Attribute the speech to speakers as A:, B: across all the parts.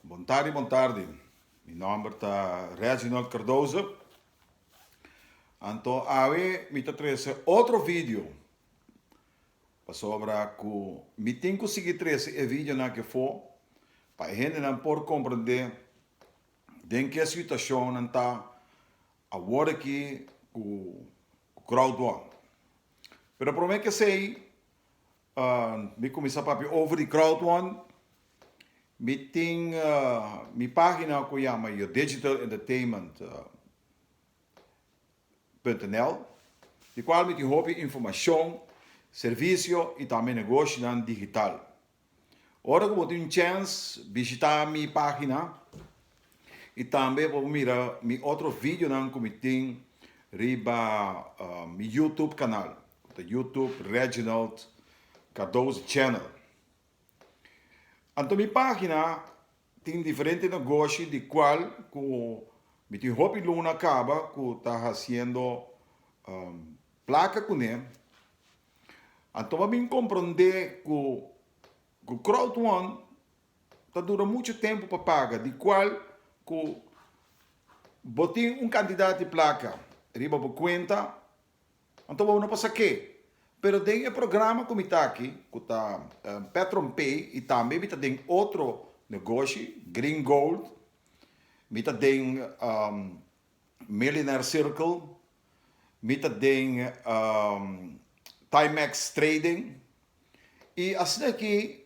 A: Bon tardi bon tardi mi nomber ta Reginald Cardoso anto awe mi ta trece otro video pasobra cu mi tin cu sigui trece e videonan aki afo pa e hendenan por comprende den ke situacion nan ta awor aki cu crowdworm pero prome ke esey Mi kuminsá papia over di Krautwon. Mi tin mi página ku yama Your Digital Entertainment punto nl di kual mi tin hopi informashon, servisio i tambe negoshinan digital. Ora ku bo tin un chèns bishitá mi página. Y tambe bo por mira mi otro videonan cu mi tin riba mi YouTube canal. Ta YouTube Reginald Cardoso Channel. Anto mi pagina tin diferente negoshi di cual cu mi tin hopi luna caba cu ta haciendo placa cune. Anto bo a bin comprende cu crowdfund. ta dura mucho tempo pa paga di cual cu bo tin un cantidad di placa riba bo cuenta anto bo no pasa ke. Pero den e programa cu mi ta aki cu ta Petron Pay y tambe mi ta den otro negoshi Green Gold mi ta den Millionaire Circle, mi ta den Timex Trading y asina aki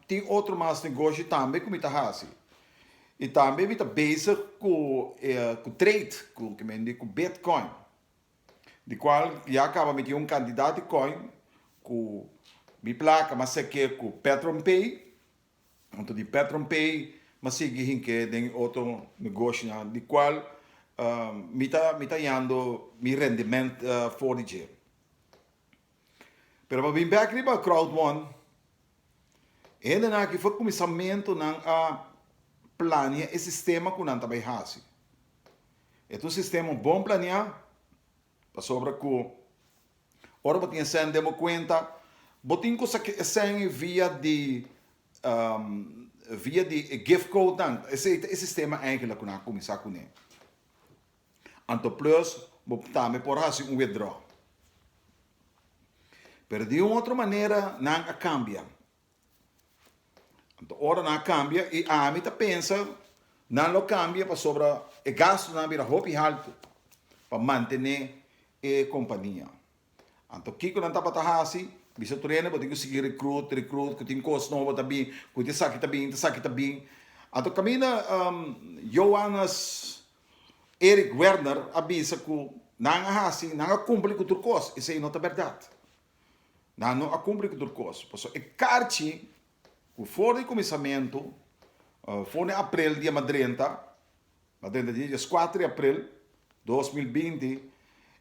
A: tin otro mas negoshi tambe cu mi ta haci y tambe mi ta bezig cu cu trade cu kico men di cu Bitcoin di cual ya caba mi tin un cantidad di coin cu mi placa mas serke cu Petronpay. Huntu di Petronpay mi a sigui hink'é den e otro negoshinan di kual mi ta mi ta yando mi rendiment for di dje. Pero pa bin bek riba Crowd One, e hendenan aki for kuminsamentu nan a plania e sistema ku nan ta bai hasi. E ta un sistema bon plania. Pasobra ku ora bo tin e sèn den bo kuenta, bo tin ku saki e sèn ei via di via di e gift code nan. Esei ta e sistema enkele ku nan a kuminsá kuné. Anto plus bo tambe por hasi un withdraw. Pero di un otro manera nan a kambia. Anto ora nan a cambia y ami ta pensa nan lo cambia pasobra e gastonan a bira hopi halto pa mantene e compania. Anto kico nan tabata haci? Bisa tur hende bo tin cu sigui recruit, recruit cu tin cos nobo ta bin, cu tin esaki ta bin, tin esaki ta bin. Anto caminda Johannes Erik Werner a bisa cu nan a haci, nan a cumpli cu tur cos. Esey no ta berdad. nan no a cumpli cu tur cos, pasobra e carchi cu for di cuminsamentu, for di aprel dia mas drenta, mas drenta dia es cuater di aprel dos mil binti,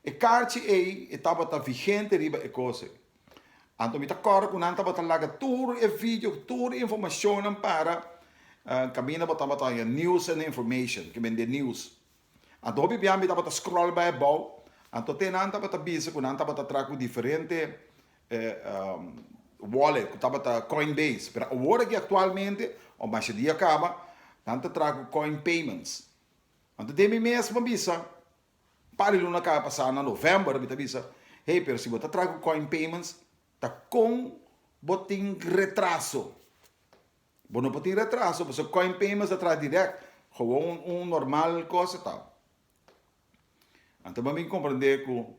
A: e carchi ey e tabata vigente riba e cos ey. Anto mi ta core cu nan tabata laga tur e video, tur e informacionnan para caminda bo tabata haya news and information, ki bende news. Anto bibian mi tabata scroll bai abou, anto te nan tabata bisa cu nan tabata tra cu diferente wallet cu tabata coinbase, pero awor aki actualmente o mas e dia caba nan ta tra cu coinpayments. Anto den mi mes a bisa un par di luna caba pasa na November mi ta bisa hey pero si bo ta tra cu coinpayments ta con bo tin retraso? Bo no por tin retraso pasobra e coin payments ta traha direct. Gewoon un un normal cosa ta. Anto bo a bin comprende cu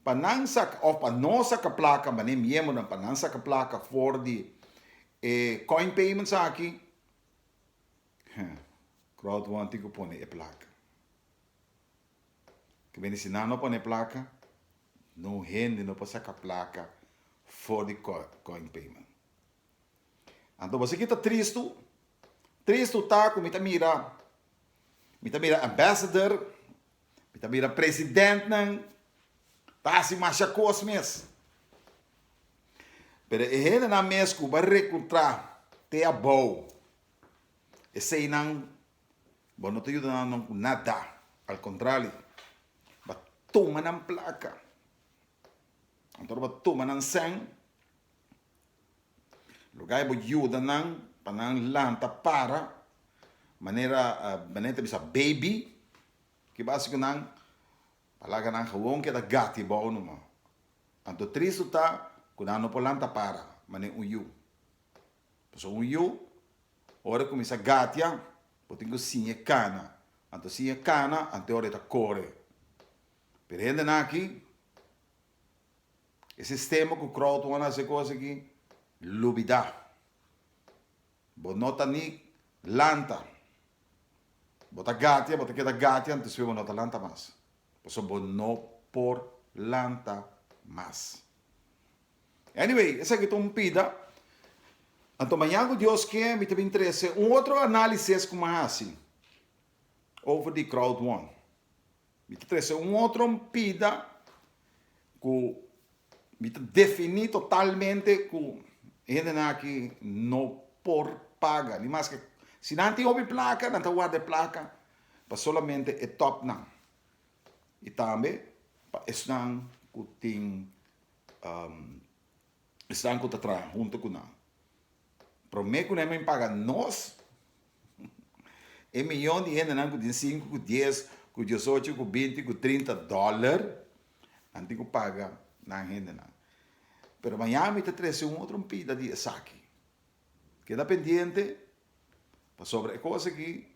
A: pa nan saca of pa no saca placa manera miembernan pa nan saca placa for di e coin payments aki crowd one tin cu pone e placa. Ta bini si nan no pone e placa no hende no por saca placa for di coin payment. Anto bo si ki ta tristu? Tristu ta ku mi ta mira, mi ta mira ambassador, mi ta mira presidentnan ta hasi masha kos mes. Pero e hendenan mes ku bo a rekurtrá te abou, eseinan bo no ta yuda nan no ku nada. Al kontrali, bo a tuma nan plaka, anto bo a tuma nan sèn. Lo gai bo yuda nan pa nan lanta para manera manera ta bisa baby ki bas ku nan a laga nan gewoon keda gati bou numa anto tristu ta ku nan no por lanta para manera un yu pasobra un yu ora e kuminsá gatia bo tin ku siña e kana anto siña e kana anto e ora e ta kore pero hende nan aki E sistema ku crowdfund hasi e kos aki, lubidá. Bo no ta ni lanta. Bo ta gatia, bo ta keda gatia en despues bo no ta lanta mas. Pasobra bo no por lanta mas. Anyway, esaki ta un pida. Anto mañan ku Dios kee mi ta bin trese un otro analises ku mi a hasi over di crowdfund. Mi ta trese un otro pida ku mi ta definí totalmente ku e hendenan aki no por paga. Di mas ke si nan tin hopi plaka, nan ta warda e plaka pa solamente e tòpnan i tambe pa esnan ku tin esnan ku ta traha huntu ku nan. Prome ku nan men paga nos, e miyon di hendenan ku tin sinku, ku dies, ku diosocho, ku binti, ku trinta dòler, nan tin ku paga nan hendenan. Pero mañana mi ta trese un otro mpida di esaki. Keda pendiente, pasobra e kos aki,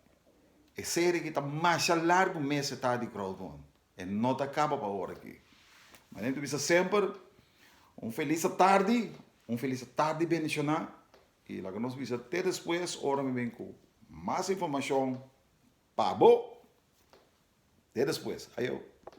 A: e serie aki ta masha largu mes ta di crowdfund. E no ta caba pa ora aki. Ma den ta bisa semper un felis atardi, un felis atardi bendiciona y laga nos bisa te despues ora mi bin cu mas informacion pa bo. Te despues. Ayo.